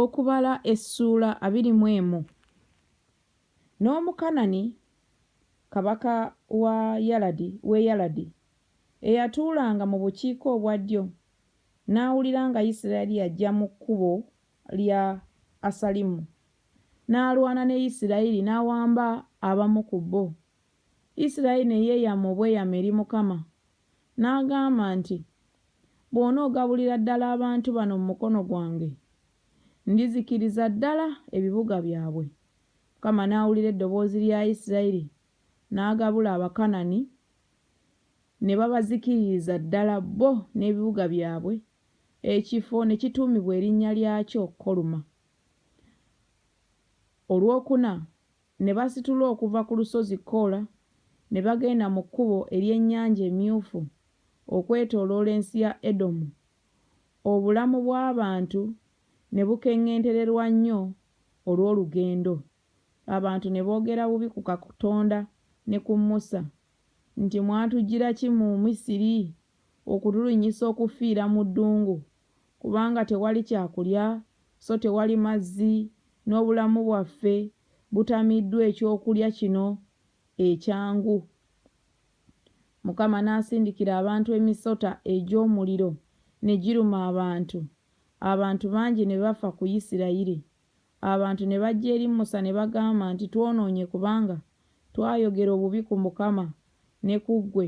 Okubala essuula abiri mu emu. N'Omukanani kabaka wa Yaladi w'e Yaladi, eyatuulanga mu bukiika obwa ddyo, n'awulira nga Yisirayeli yajja mu kkubo lya Asalimu, n'alwana ne Yisirayeli, n'awamba abamu ku bo. Yisirayeli ne yeeyama obweyamo eri Mukama N'agamba nti, Bw'onoogabulira ddala abantu bano mu mukono gwange, ndizikiriza ddala ebibuga byabwe. Mukama n'awulira eddoboozi lya Yisirayiri, n'agabula Abakanani, ne babazikiririza ddala bo n'ebibuga byabwe, ekifo ne kituumibwa erinnya lyakyo Koluma. Olwokuna, Ne basitula okuva ku lusozi Kora, ne bagenda mu kkubo ery'Ennyanja Emyufu okwetooloola ensi ya Edomu, obulamu bw'abantu ne bukeŋŋentererwa nnyo olw'olugendo, abantu ne boogera bubi ku Katonda ne ku Musa, nti, Mwatujjira ki mu Misiri? okutulinnyisa okufiira mu ddungu, kubanga tewali kyakulya, so tewali mazzi, n'obulamu bwaffe butamiddwa eky'okulya kino ekyangu. Mukama n'asindikira abantu emisota egy'omuliro, ne giruma abantu, abantu bangi ne bafa ku Isirayiri. Abantu ne bajja eri Musa ne bagamba nti, Twonoonye kubanga twayogera obubi ku Mukama ne ku ggwe.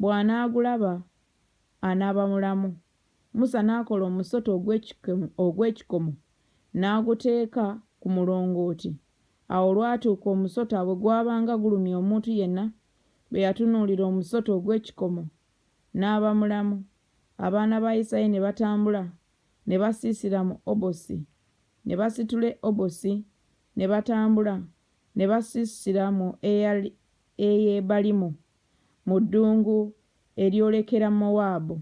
Bw'anaagulaba, anaaba mulamu. Musa n'akola omusota ogw'ekikomo, ogw'ekikomo, n'aguteeka ku mulongooti. Awo olwatuuka omusota bwe gwabanga gulumya omuntu yenna, bwe yatunuulira omusota ogw'ekikomo, n'aba mulamu. Abaana ba Isiraeri ne batambula ne basiisira mu Obosi. Ne basitula Obosi, ne batambula ne basiisira mu Eyebalimu. mu ddungu eryolekera Mowaabu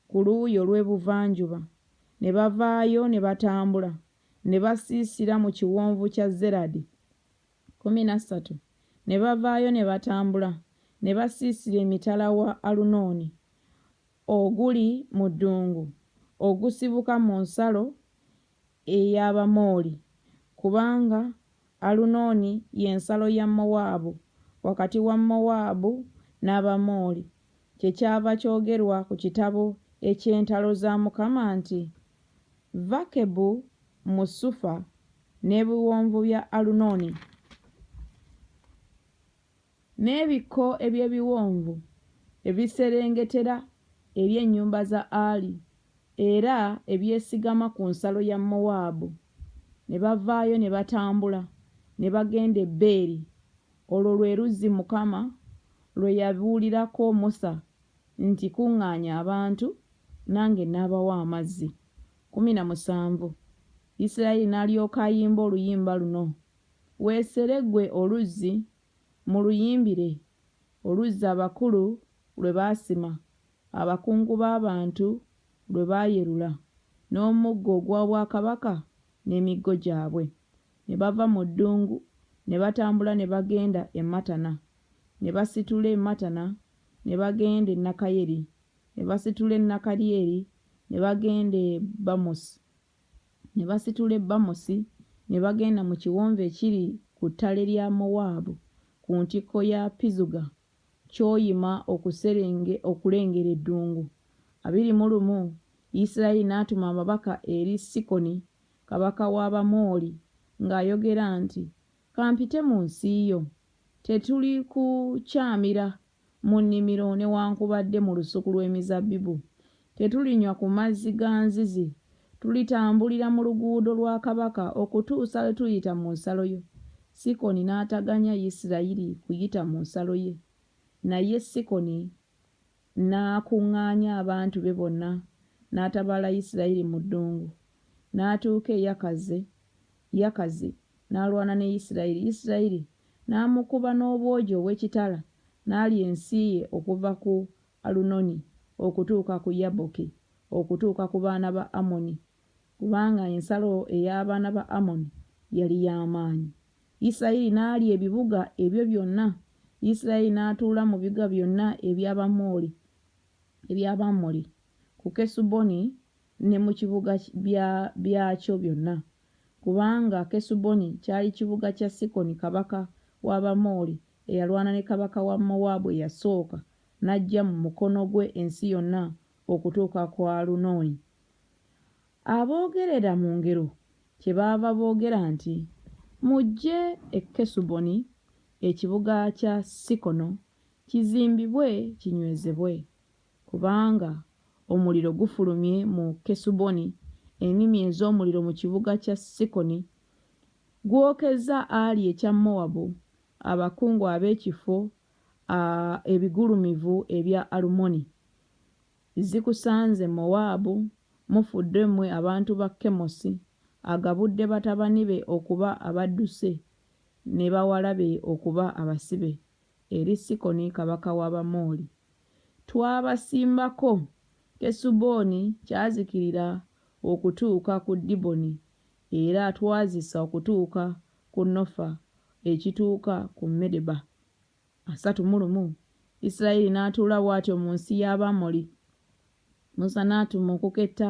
ku luuyi olw'ebuvanjuba, ne bavaayo ne batambula ne basiisira mu kiwonvu kya Zeradi. Kkumi na ssatu ne bavaayo ne batambula ne basiisira emitala wa Alunooni oguli mu ddungu ogusibuka mu nsalo ey'Abamooli, kubanga Alunooni ye nsalo ya Mowaabu, wakati wa Mowaabu n'Abamooli. Kyekyava kyogerwa ku kitabo eky'entalo za Mukama nti, Vakebu mu Sufa, n'ebiwonvu bya Alunooni. N'ebikko eby'ebiwonvu ebiserengetera eri ennyumba za Ari, era ebyesigama ku nsalo ya Mowaabu, ne bavaayo ne batambula ne bagenda e Beeri. Olwo lwe luzzi Mukama lwe yabuulirako Musa nti, Kuŋŋaanya abantu, nange nnaabawa amazzi. Kkumi na musanvu, Isirayiri n'alyoka ayimba oluyimba luno Weesere ggwe oluzzi, muluyimbire, oluzzi abakulu lwe baasima, abakungu b'abantu lwe baayerula, n'omuggo ogw'obwakabaka n'emiggo gyabwe. Ne bava mu ddungu ne batambula ne bagenda e Matana, ne basitula e Matana ne bagenda e Nakayeri, ne basitula e Nakaryeri ne bagenda e Bamosi. Ne basitula e Bamosi, ne bagenda mu kiwonvu ekiri ku ttale lya Mowaabu, ku ntikko ya Pizuga, Kyoyima okuserenge, okulengera eddungu. Abiri mu lumu Yisirayeli n'atuma ababaka eri Sikoni kabaka w'Abamoli, ng'ayogera nti, Ka mpite mu nsi yo. Tetuli kukyamira mu nnimiro newankubadde mu lusuku lw'emizabbibu. Tetulinywa ku mazzi ga nzizi. Tulitambulira mu luguudo lwa kabaka okutuusa lwe tuliyita mu nsalo yo. Sikoni n'ataganya Isirayiri kuyita mu nsalo ye. Naye Sikoni n'akuŋŋaanya abantu be bonna n'atabaala Isirayiri mu ddungu, n'atuuka e Yakaze Yakazi n'alwana ne Isirayiri, Isirayiri n'amukuba n'obwogi obw'ekitala, n'alya ensi ye okuva ku Alunoni okutuuka ku Yabboki, okutuuka ku baana ba Ammoni, kubanga ensalo ey'abaana ba Ammoni yali ya maanyi. Isirayiri n'alya ebibuga ebyo byonna, Isirayiri n'atuula mu bibuga byonna eby'Abamooli, eby'Abamoli, ku Kesuboni ne mu kibuga bya byakyo byonna, kubanga Kesuboni kyali kibuga kya Sikoni kabaka w'Abamoli, eyalwana ne kabaka wa Mowaabu eyasooka, n'aggya mu mukono gwe ensi yonna okutuuka ku Alunoni. Aboogerera mu ngero kyebaava boogera nti, Mujje e Kesuboni, ekibuga kya Sikono, kizimbibwe kinywezebwe, Kubanga omuliro gufulumye mu Kesuboni, Ennimi ez'omuliro mu kibuga kya Sikoni. Gwokezza Ali ekya Mowabu, Abakungu ab'ekifo a ebigulumivu ebya Alumoni. Zikusanze, Mowaabu! Mufudde mmwe abantu ba Kemosi! Agabudde batabani be okuba abadduse, Ne bawala be okuba abasibe, Eri Sikoni kabaka w'Abamoli. Twabasimbako, Kesuboni kyazikirira okutuuka ku Diboni, era twazisa okutuuka ku Nofa ekituuka ku Medeba. Asatu mu lumu Isirayiri n'atuula bw'atyo mu nsi y'Abamoli. Musa n'atuma okuketta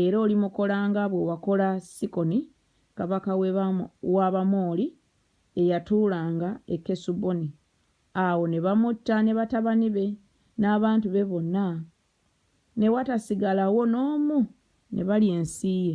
Era olimukola nga bwe wakola Sikoni kabaka w'Abamooli eyatuulanga e Kesuboni. Awo ne bamutta ne batabani be n'abantu be bonna, ne watasigalawo n'omu, ne balya ensi ye.